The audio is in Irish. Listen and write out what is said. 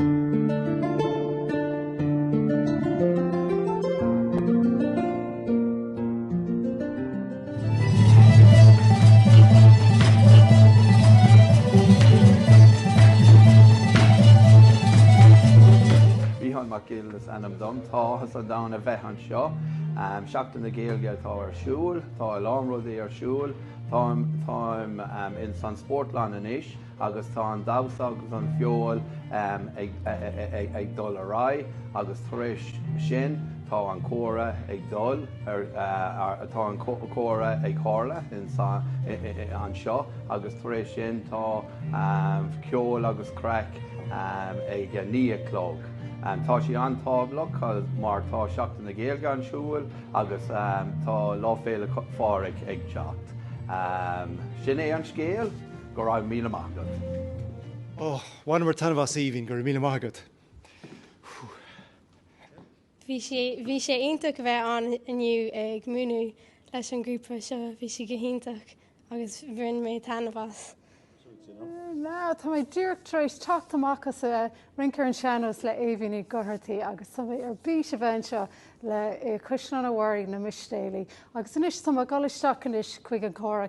Micheál Mac Gill is ainm dom. Tá áthas an domhain a bheith anseo. Seachtain na Gaeilge atá ar siúl. Tá a lán rudaí ar siúl. Táim, táim in san spórtlann anois. agus tá an damhsa agus an cheol ag dul ar aghaidh agus tar éis sin tá an comhrá ag dul ar tá an comhrá ag tarlú anseo agus tar éis sin tá ceol agus craic ag a naoi a chlog. Tá sé an-tábhachtach mar tá Seachtain na Gaeilge ar siúl agus tá Lá Féile Phádraig ag teacht. Sin é an scéal. Go raibh míle maith agat. Ó, bhaineamar taitneamh as Aoibhinn, go raibh míle maith agat. Bhí sé, bhí sé iontach bheith ann inniu ag múineadh leis an grúpa seo, bhí sé go hiontach agus bhain mé taitneamh as. Ná, tá mé díreach tar éis teacht amach as a bheith rince ar an sean-nós le Aoibhinn Ní Dhochartaigh agus tá mé ar bís a bheith anseo le, i Caisleán Bhaile Mhistéala. Agus anois, tá mé ag dul isteach anois chuig an gcomhrá.